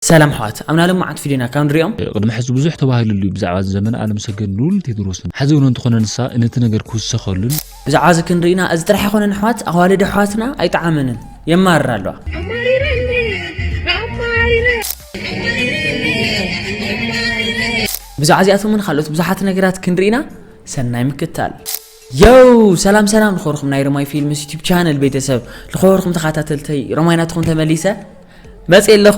ሰላም ኣሕዋት ኣብና ሎማዓንቲ ፊድዮና ካብ ንሪኦም። ቅድሚ ሕዚ ብዙሕ ተባሂሉሉ እዩ ብዛዕባ እዚ ዘመነ ኣለምሰገድ ልኡል ቴድሮስን ሕዚ እውን እንተኾነ ንሳ ነቲ ነገር ክውሰኸሉን። ብዛዕባ እዚ ክንርኢና እዚ ጥራሕ ኣይኮነን ኣሕዋት ኣዋልድ ኣሕዋትና ኣይጠዓመንን የማርራ ኣለዋ። ብዛዕባ እዚኣቶምን ካልኦት ብዙሓት ነገራት ክንርኢና ሰናይ ምክታል። Yow ሰላም ሰላም ልኾርኹም ናይ ረማይ ፊልምስ ዩቲብ ቻነል ቤተሰብ ልኾርኹም ተኻታተልተይ ረማይ ናትኹም ተመሊሰ መፅእ ኣለኹ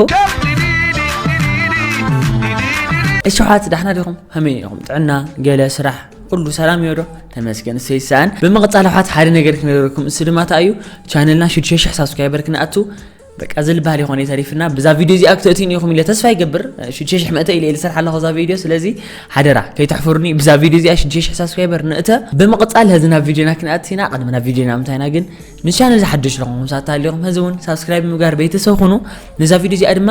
እሸሓት ዳሕና ዲኹም ከመይ ኢኹም ጥዕና ገለ ስራሕ ኩሉ ሰላም እዮ ዶ ተመስገን እሰይ ሰኣን ብምቕፃል ኣሕዋት ሓደ ነገር ክነገረኩም እሱ ድማ እንታይ እዩ ቻነልና ሽዱሽተ ሽሕ ሳብስክራይበር ክንኣቱ በቃ ዝልባል ይኾነ ተሪፍና ብዛ ቪድዮ እዚኣ ክትእትዩኒ ኢኹም ኢለ ተስፋ ይገብር ሽዱሽተ ሽሕ መእተ ኢለ ልሰርሕ ኣለኹ እዛ ቪድዮ ስለዚ ሓደራ ከይተሕፍሩኒ ብዛ ቪድዮ እዚኣ ሽዱሽተ ሽሕ ሳብስክራይበር ንእተ ብምቕፃል ህዚ ናብ ቪድዮና ክንኣትሲና ቅድሚ ናብ ቪድዮና ምንታይና ግን ንቻነል ዝሓደሽ ለኹም ሳታ ኣለኹም ህዚ እውን ሳብስክራይብ ምግባር ቤተሰብ ኹኑ ንዛ ቪድዮ እዚኣ ድማ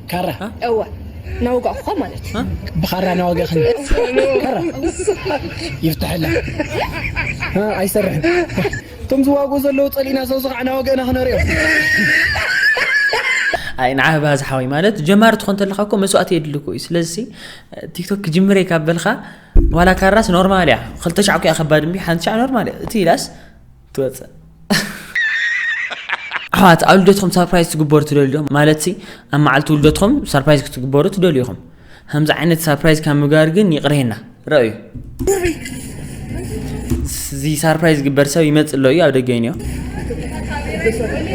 ካራ እወ ናወጋእኩካ ማለት እዩ ብኻራ ናወጋእክኒ ካራ ይፍትሐላ ኣይሰርሕን እቶም ዝዋግኡ ዘለዉ ፀሊእና ሰብዚ ከዓ ናወገእና ክነሪኦ ኣይ ንዓ ባዝ ሓወይ ማለት ጀማሪ ትኾን ተለካ እኮ መስዋእቲ የድሊ እኮ እዩ ስለዚ ቲክቶክ ክጅምረ ካብ በልካ ዋላ ካራስ ኖርማል እያ ክልተ ሻዕ እኮ እያ ከባድ እምቢ ሓንቲ ሻዕ ኖርማል እያ እቲ ኢላስ ትወጽእ ኣሕዋት ኣብ ልደትኩም ሳርፕራይዝ ትግበሩ ትደልዩ ዶ ማለትሲ ኣብ መዓልቲ ልደትኩም ሳርፕራይዝ ክትግበሩ ትደልዩ ኢኹም ከምዚ ዓይነት ሳርፕራይዝ ካብ ምግባር ግን ይቕሬና ረኣዩ እዚ ሳርፕራይዝ ዝግበር ሰብ ይመፅእ ኣሎ እዩ ኣብ ደገ ይንዮ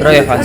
ረኣዩ ኣሕዋት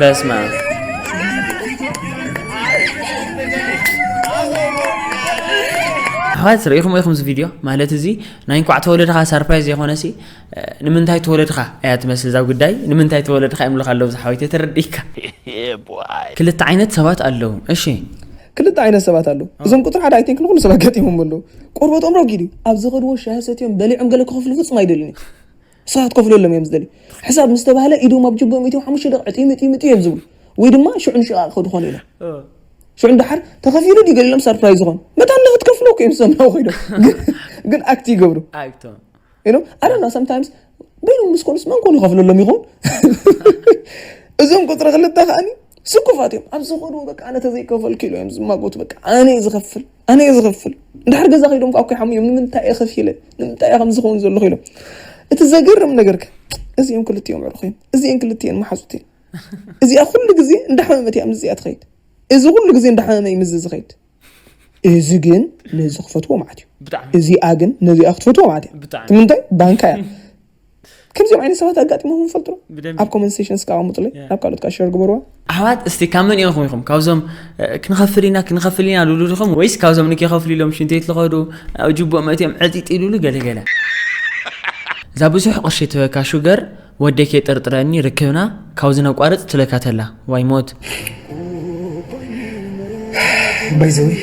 በስመ አብ ኣሕዋት ርኢኹም ኢኹም እዚ ቪድዮ ማለት እዚ ናይ እንኳዕ ተወለድኻ ሰርፕራይዝ የኾነሲ ንምንታይ ተወለድኻ እያ ትመስል እዛ ጉዳይ ንምንታይ ተወለድኻ ይምልኽ ኣለዉ ዝሓወይተ ተረዲእካ ክልተ ዓይነት ሰባት ኣለዉ እሺ ክልተ ዓይነት ሰባት ኣለዉ እዞም ቁፅሪ ሓደ ኣይቲንክ ንኩሉ ሰብ ኣጋጢሞም ኣለዉ ቆርበቶም ረጊድ እዩ ኣብ ዝኸድዎ ሻሂ ሰትዮም በሊዖም ገለ ክኸፍሉ ፍፁም ኣይደልን እዩ ንስኻ ክትከፍለሎም እዮም ዝደልዩ ሕሳብ ምስ ተባህለ ኢዶም ኣብ ጅቦም እትዮም ሓሙሽተ ደቂ ዕጥዩ ምጥዩ ምጥዩ እዮም ዝብሉ ወይ ድማ ሽዑ ንሽቃ ክኸዱ ኾኑ ኢሎም ሽዑ እንዳሓር ተኸፊሉ ድዩ ገሊሎም ሰርፕራይዝ ዝኾኑ መታ እንደ ክትከፍሎ እኮ እዮም ዝሰምዑ ኮይዶም ግን ኣክቲ ይገብሩ ኢሎም ኣረና ሰምታይምስ በይኖም ምስ ኮኑስ መን ኮኑ ይኸፍለሎም ይኾን እዞም ቁፅሪ ክልተ ከዓኒ ስኩፋት እዮም ኣብ ዝኾኑ በቃ ኣነ ተዘይከፈልኪ ኢሎ እዮም ዝማጎቱ በቃ ኣነ ዝኸፍል ኣነ እየ ዝኸፍል ድሕር ገዛ ከይዶም ከዓ ኮይሖም እዮም ንምንታይ እየ ከፊለ ንምንታይ እየ ከምዝኸውን ዘለኹ ኢሎም እቲ ዘገርም ነገር ከ እዚኦም ክልቲኦም ዕሩኽ እዮም እዚአን ክልቲኤን መሓዙት እየን እዚኣ ኩሉ ግዜ እንዳሓመመት እያ ምስዚኣ ትኸይድ እዚ ኩሉ ግዜ እንዳሓመመ እዩ ምስዚ ዝኸይድ እዚ ግን ነዚ ክፈትዎ ማለት እዩ እዚኣ ግን ነዚኣ ክትፈትዎ ማለት እያ እቲ ምንታይ ባንካ እያ ከምዚኦም ዓይነት ሰባት ኣጋጢሞም ፈልጡ ኣብ ኮመንሴሽን እስካ ኣቀምጡለይ ናብ ካልኦት ካ ሸር ግበርዋ ኣሕዋት እስቲ ካብ መን ኢኹም ኢኹም ካብዞም ክንኸፍል ኢና ክንኸፍል ኢና ልሉ ዲኹም ወይስ ካብዞም ንከኸፍሉ ኢሎም ሽንተይት ዝኸዱ ኣብ ጅቡእ መእትዮም ዕጢጥ ኢሉሉ ገለገለ እዛ ብዙሕ ቅርሺ ትበካ ሹገር ወደይ ከይጥርጥረኒ ርክብና ካብዚ ነቋርጽ ትብለካ ተላ ዋይ ሞት። ባይ ዘ ወይ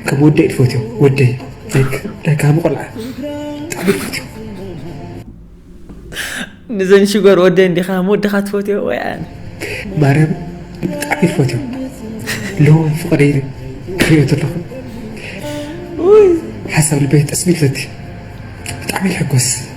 ከም ወደይ ትፈትዮ ወደይ ላይክ ላይክ ሃቡ ቆልዓ ብጣዕሚ ትፈትዮ ንዘን ሽጎር ወደ እንዲኻ ወድኻ ትፈትዮ ወይ ኣነ ማርያም ብጣዕሚ ትፈትዮ ለዎም ፍቕሪ ክሪኦ ዘለኹ ሓሳብ ልበይ ጠስሚትለቲ ብጣዕሚ ይሕጎስ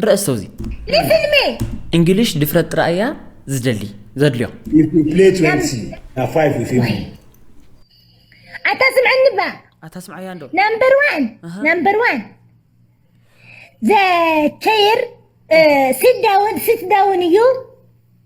ንርእሰው እዚ ንፊልሚ እንግሊሽ ድፍረት ጥራይ እያ ዝደሊ ዘድልዮ ኣታ ስምዐኒ ባ ኣታ ስምዐያ እንዶ ናምበር ዋን ናምበር ዋን ዘ ቸይር ሲት ዳውን ሲት ዳውን እዩ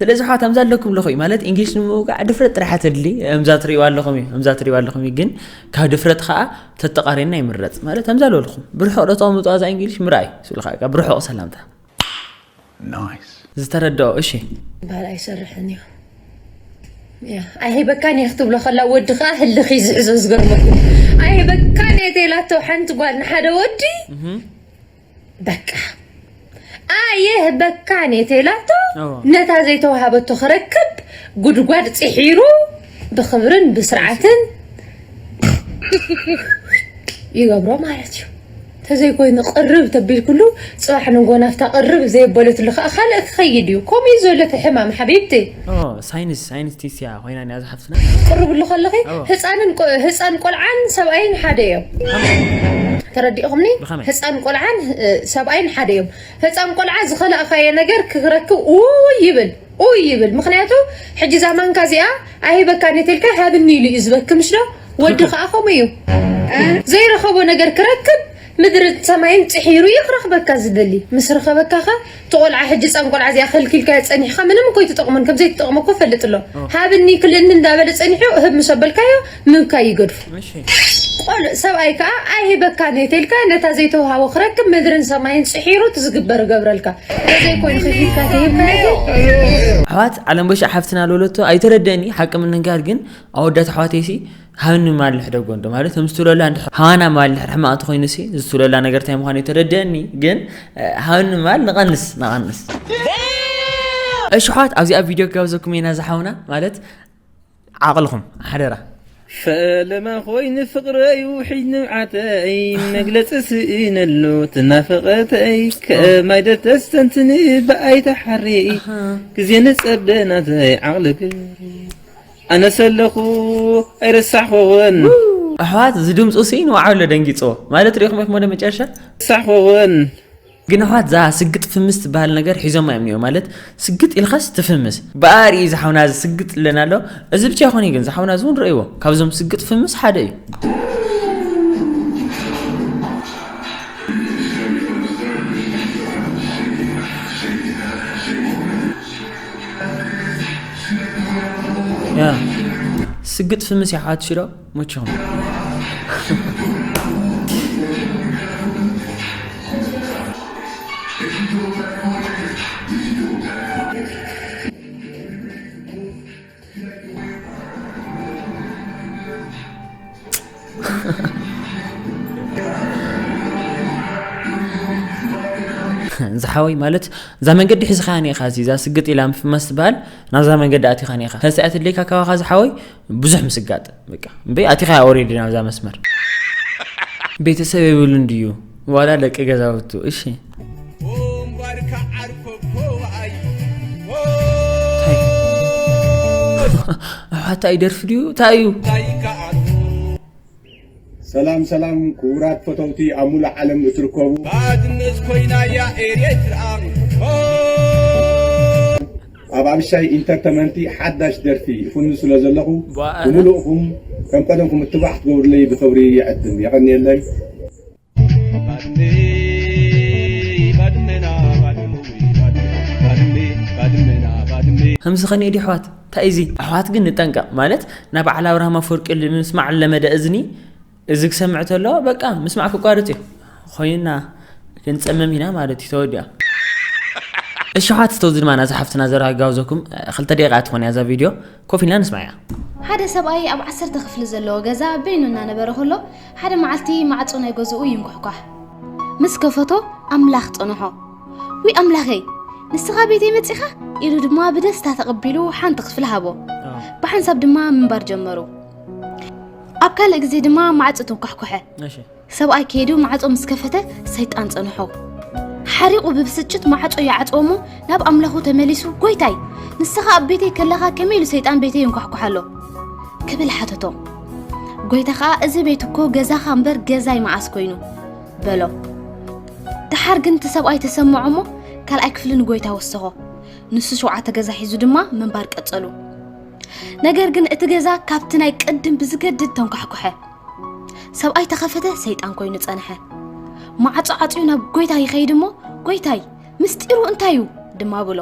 ስለዚ ኣሕዋት ኣምዛ ኣለኩም ኣለኹ እዩ ማለት እንግሊሽ ንምውቃዕ ድፍረት ጥራሕ ተድሊ ኣምዛ ትሪእዋ ኣለኹም እዩ ኣምዛ ትሪእዋ ኣለኹም እዩ ግን ካብ ድፍረት ከዓ ተተቃሪና ይምረፅ ማለት ኣምዛ ኣለኹም ብርሑቕ ዶ ተቐምጥዋ እዛ እንግሊሽ ምርኣይ ስብልካ ብርሑቕ ሰላምታ ዝተረድኦ እሺ ባል ኣይሰርሕን እዩ ኣይህበካን እየ ክትብሎ ከላ ወዲ ከዓ ህልኽ ይዝዕዞ ዝገርመኩም ኣይህበካን እየ ተላቶ ሓንቲ ጓል ንሓደ ወዲ በቃ ኣየህ በካ ኔቴላቶ ነታ ዘይተዋሃበቶ ክረክብ ጉድጓድ ፂሒሩ ብክብርን ብስርዓትን ይገብሮ ማለት እዩ ተዘይኮይኑ ቅርብ ተቢልኩሉ ፅባሕ ንጎ ናፍታ ቅርብ ዘየበለትሉ ከዓ ካልእ ክኸይድ እዩ ከምኡ እዩ ዘሎ እቲ ሕማም ሓቢብቲ ሳይንስ ሳይንቲስት እያ ኮይና እያ ዝሓፍትና ቅርብሉ ከለኺ ህፃንን ህፃን ቆልዓን ሰብኣይን ሓደ እዮም ተረዲእኹምኒ ህፃን ቆልዓን ሰብኣይን ሓደ እዮም ህፃን ቆልዓ ዝኸላእኻየ ነገር ክረክብ ውይ ይብል ውይ ይብል ምክንያቱ ሕጂ እዛ ማንካ እዚኣ ኣይህበካ ኔትልካ ሃብኒ ኢሉ እዩ ዝበኪ ምሽ ዶ ወዲ ከዓ ከምኡ እዩ ዘይረኸቦ ነገር ክረክብ ምድሪ ሰማይን ፅሒሩ እዩ ክረክበካ ዝደሊ ምስ ረኸበካ ከ እቲ ቆልዓ ሕጂ ጸም ቆልዓ እዚኣ ከልኪልካዮ ጸኒሕካ ምንም እኮ ኣይትጠቕሞን ከም ዘይትጠቕሞ እኮ ፈልጥ ኣሎ ሃብኒ ክልእኒ እንዳበለ ጸኒሑ እህብ ምስ ኣበልካዮ ምብካይ ይገድፎ ቆልዕ ሰብኣይ ከኣ ኣይህበካን እየ ተልካ ነታ ዘይተውሃቦ ክረክብ ምድርን ሰማይን ጽሒሩ እቲ ዝግበር እገብረልካ ተዘይ ኮይኑ ከፊትካ ተሂብካዮ ግን ኣሕዋት ዓለምበሻ ሓፍትና ለወለቶ ኣይተረደእኒ ሓቂ ምንጋር ግን ኣወዳት ኣሕዋተይሲ ሃኒ ማልሕ ደጎ እንዶ ማለት እቶም ዝትብለላ እንዲ ሃዋና ማል ድሕር ሕማቕ እንተኾይኑ ሲ ዝትብለላ ነገር እንታይ ምዃኑ ተረድአኒ ግን ሃኒ ማል ንቐንስ ንቐንስ እሺ ኣሕዋት ኣብዚኣ ቪድዮ ክጋብዘኩም ኢና ዝሓውና ማለት ዓቕልኹም ሓደራ ፈለማ ኾይኑ ፍቕረይ ውሒድ ንብዓተይ መግለፂ ስእነሉ ትናፈቐተይ ከማይ ደተስተንትኒ ብኣይ ተሓሪ ግዜ ንፀበናተይ ዓቕሊ ግሪ ኣነሰ ኣለኩ ኣይረሳሕኩክን። ኣሕዋት እዚ ድምፁ ሲ ንባዕሉ ኣሎ ደንጊፅዎ ማለት ሪኢኹም ኢኹም ወደ መጨረሻ። ሳሕኹን ግን ኣሕዋት እዛ ስግጥ ፍምስ ትበሃል ነገር ሒዞማ እዮም እኒኦ ማለት ስግጥ ኢልካስ ትፍምስ ብኣ ርኢ ዝሓውና እዚ ስግጥ ዝብለና ኣሎ እዚ ብቻ ይኾን እዩ ግን ዝሓውና እዚ እውን ረእይዎ ካብዞም ስግጥ ፍምስ ሓደ እዩ ስግጥ ፍምስ ያሓት ሽሮ ሙችኹም ዝሓወይ ማለት እዛ መንገዲ ሒዝኻ ኒኻ እዚ እዛ ስግጥ ኢላ ምፍማስ ትበሃል ናብዛ መንገዲ ኣቲኻ ኒኻ ከዚ ኣትለይካ ካባኻ ዝሓወይ ብዙሕ ምስጋጥ በቃ እምበይ ኣቲኻ ኦሬዲ ናብዛ መስመር ቤተሰብ የብሉን ድዩ ዋላ ደቂ ገዛውቱ እሺ ኣሕዋታይ ደርፊ ድዩ እንታይ እዩ ሰላም ሰላም ክቡራት ፈተውቲ ኣብ ሙሉእ ዓለም እትርከቡ ባድመት ኮይና እያ ኤርትራ ኣብ ኣብሻይ ኢንተርተመንቲ ሓዳሽ ደርፊ ይፍኑ ስለ ዘለኹ ብሙሉእኹም ከም ቀደምኩም እትባዕ ክትገብሩለይ ብኽብሪ ይዕድም የቐንየለይ ከምዚ ከኒየ ድዩ ኣሕዋት እንታይ እዚ ኣሕዋት ግን ንጠንቀቕ ማለት ናብ በዓል ኣብርሃም ኣፈወርቂ ንምስማዕ ለመደ እዝኒ እዚ ክሰምዕ ተሎ በቃ ምስማዕ ክቋርፅ እዩ ኮይና ክንፀመም ኢና ማለት እዩ ተወዲያ እሺ ኣሕዋት ተዚ ድማና ዝሓፍትና ዘራ ጋብዘኩም ክልተ ደቂቃ ትኾን እያ እዛ ቪድዮ ኮፍ ኢልና ንስምዓያ። ሓደ ሰብኣይ ኣብ ዓሰርተ ክፍሊ ዘለዎ ገዛ በይኑ እናነበረ ከሎ፣ ሓደ መዓልቲ ማዕጾ ናይ ገዝኡ ይንኳሕኳሕ። ምስ ከፈቶ ኣምላኽ ጸንሖ። ውይ ኣምላኸይ! ንስኻ ቤተይ መጺኻ? ኢሉ ድማ ብደስታ ተቐቢሉ ሓንቲ ክፍሊ ሃቦ። ብሓንሳብ ድማ ምንባር ጀመሩ። ኣብ ካልእ ግዜ ድማ ማዕጾ ተንኳሕኩሐ። እሺ። ሰብኣይ ከይዱ ማዕጾ ምስ ከፈተ ሰይጣን ጸንሖ። ሓሪቑ ብብስጭት ማዕጾ ይዓጽዎ እሞ ናብ ኣምላኹ ተመሊሱ ጎይታይ ንስኻ ኣብ ቤተይ ከለኻ ከመይ ኢሉ ሰይጣን ቤተይ ይንኳሕኳሕ ኣሎ ክብል ሓተቶ። ጎይታ ከኣ እዚ ቤት እኮ ገዛኻ እምበር ገዛይ መዓስ ኮይኑ በሎ። ደሓር ግን እቲ ሰብኣይ ተሰምዖ እሞ ካልኣይ ክፍሊ ንጎይታ ወሰኾ። ንሱ ሸውዓተ ገዛ ሒዙ ድማ ምንባር ቀጸሉ። ነገር ግን እቲ ገዛ ካብቲ ናይ ቅድም ብዝገድድ ተንኳሕኩሐ። ሰብኣይ ተኸፈተ ሰይጣን ኮይኑ ጸንሐ ማዕጾ ዓጽዩ ናብ ጎይታ ይኸይድ እሞ ጎይታይ ምስጢሩ እንታይ እዩ ድማ ብሎ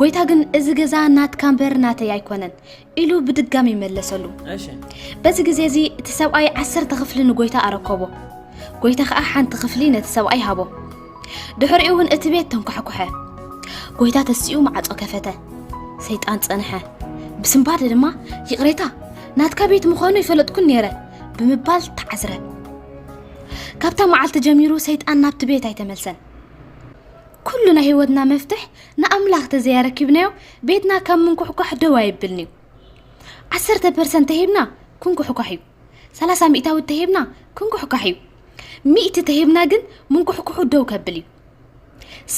ጎይታ ግን እዚ ገዛ ናትካ እምበር ናተይ ኣይኮነን ኢሉ ብድጋሚ ይመለሰሉ በዚ ግዜ እዚ እቲ ሰብኣይ ዓሰርተ ክፍሊ ንጎይታ ኣረከቦ ጎይታ ከዓ ሓንቲ ክፍሊ ነቲ ሰብኣይ ሃቦ ድሕሪኡ እውን እቲ ቤት ተንኳሕኩሐ ጎይታ ተሲኡ ማዕፆ ከፈተ ሰይጣን ፀንሐ ብስንባደ ድማ ይቕሬታ ናትካ ቤት ምዃኑ ይፈለጥኩን ነይረ ብምባል ተዓዝረ ካብታ መዓልቲ ጀሚሩ ሰይጣን ናብቲ ቤት ኣይተመልሰን ኩሉ ናይ ህይወትና መፍትሕ ንኣምላኽ ተዘያረኪብናዮ ቤትና ካብ ምንኩሕኳሕ ደው ኣይብልን እዩ ዓሰርተ ፐርሰንት ተሂብና ክንኩሕኳሕ እዩ ሰላሳ ሚእታዊት ተሂብና ክንኩሕካሕ እዩ ሚእቲ ተሂብና ግን ምንኩሕኩሑ ደው ከብል እዩ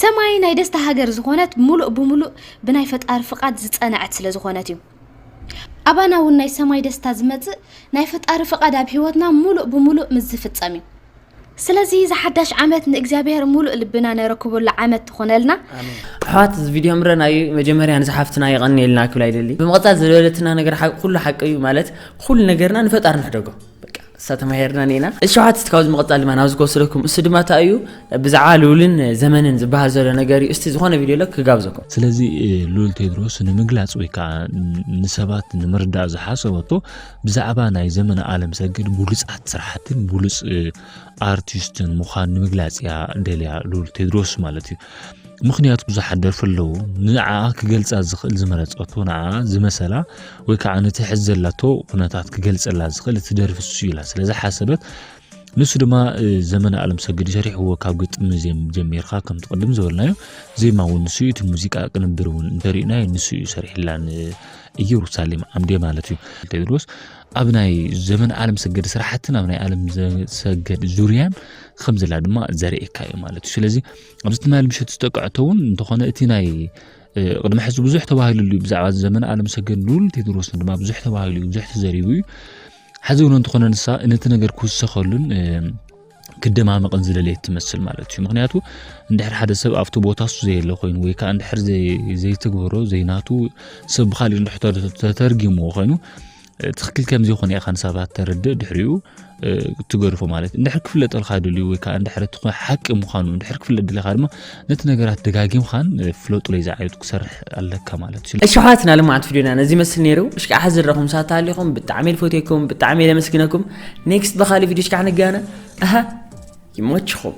ሰማይ ናይ ደስታ ሃገር ዝኾነት ሙሉእ ብሙሉእ ብናይ ፈጣሪ ፍቃድ ዝፀነዐት ስለ ዝኾነት እዩ ኣባና እውን ናይ ሰማይ ደስታ ዝመፅእ ናይ ፈጣሪ ፍቃድ ኣብ ሂወትና ሙሉእ ብሙሉእ ምስ ዝፍፀም እዩ ስለዚ እዚ ሓዳሽ ዓመት ንእግዚኣብሔር ሙሉእ ልብና ነረክበሉ ዓመት ትኾነልና። ኣሕዋት እዚ ቪድዮ ምረና እዩ መጀመርያ ንዛ ሓፍትና የቀንየልና ክብላ ይደሊ ብምቅጻል ዝበለትና ነገር ኩሉ ሓቂ እዩ ማለት ኩሉ ነገርና ንፈጣሪ ንሕደጎ እሳ ተማሂርና ኔና ሸውዓተ እቲ ካብዚ መቐፃል ድማ ናብዚ ክወስደኩም እሱ ድማ እታ እዩ ብዛዕባ ልውልን ዘመንን ዝበሃል ዘሎ ነገር እዩ እስቲ ዝኾነ ቪድዮ ለ ክጋብዘኩም ስለዚ ልውል ቴድሮስ ንምግላፅ ወይ ከዓ ንሰባት ንምርዳእ ዝሓሰበቶ ብዛዕባ ናይ ዘመነ ኣለምሰገድ ብሉጻት ስራሕትን ብሉጽ ኣርቲስትን ምዃን ንምግላጽ እያ ደልያ ሉል ቴድሮስ ማለት እዩ ምክንያቱ ብዙሓት ደርፊ ኣለዉ ንዓ ክገልጻ ዝኽእል ዝመረጸቶ ንዓ ዝመሰላ ወይ ከዓ ነቲ ሕዚ ዘላቶ ኩነታት ክገልጸላ ዝኽእል እቲ ደርፊ እሱ ኢላ ስለዝሓሰበት ንሱ ድማ ዘመነ ኣለምሰገድ እዩ ሰሪሕዎ ካብ ግጥሚ ዜም ጀሚርካ ከምቲ ቅድም ዝበልናዮ ዜማ እውን ንሱ እዩ እቲ ሙዚቃ ቅንብር እውን እንተሪእናዮ ንሱ እዩ ሰሪሕላ ንኢየሩሳሌም ዓምዴ ማለት እዩ ቴድሮስ ኣብ ናይ ዘመነ ኣለም ሰገድ ስራሕትን ኣብ ናይ ኣለም ሰገድ ዙርያን ከም ዘላ ድማ ዘርእካ እዩ ማለት እዩ ስለዚ ኣብዚ ትማል ምሸት ዝጠቅዐቶ እውን እንተኾነ እቲ ናይ ቅድሚ ሕዚ ብዙሕ ተባሂሉሉ እዩ ብዛዕባ ዘመነ ኣለም ሰገድ ልኡል ቴድሮስን ድማ ብዙሕ ተባሂሉ እዩ ብዙሕ ተዘሪቡ እዩ ሕዚ እውን እንተኾነ ንሳ ነቲ ነገር ክውሰኸሉን ክደማመቕን ዝደለየት ትመስል ማለት እዩ ምክንያቱ እንድሕር ሓደ ሰብ ኣብቲ ቦታ እሱ ዘየለ ኮይኑ ወይ ከዓ እንድሕር ዘይትግበሮ ዘይናቱ ሰብ ብካሊእ እንድሕ ተተርጊምዎ ኮይኑ ትክክል ከምዚ ይኾነ ኢኻ ንሳባት ተረድእ ድሕሪኡ ትገድፎ ማለት እንድሕር ክፍለጠልካ ድልዩ ወይ ከዓ እንድሕር እቲ ሓቂ ምዃኑ እንድሕር ክፍለጥ ድልኻ ድማ ነቲ ነገራት ደጋጊምኻን ፍለጡለይ ዝዓይነቱ ክሰርሕ ኣለካ ማለት እዩ ኣሸሓትና ልምዓት ቪድዮና ነዚ መስል ነይሩ እሽካ ሓ ዝረኹም ሳታ ኣሊኹም ብጣዕሚ ልፈትየኩም ብጣዕሚ ኢለ መስግነኩም ኔክስት ብካሊ ቪድዮ ሽካ ንጋነ ኣሃ ይመችኹም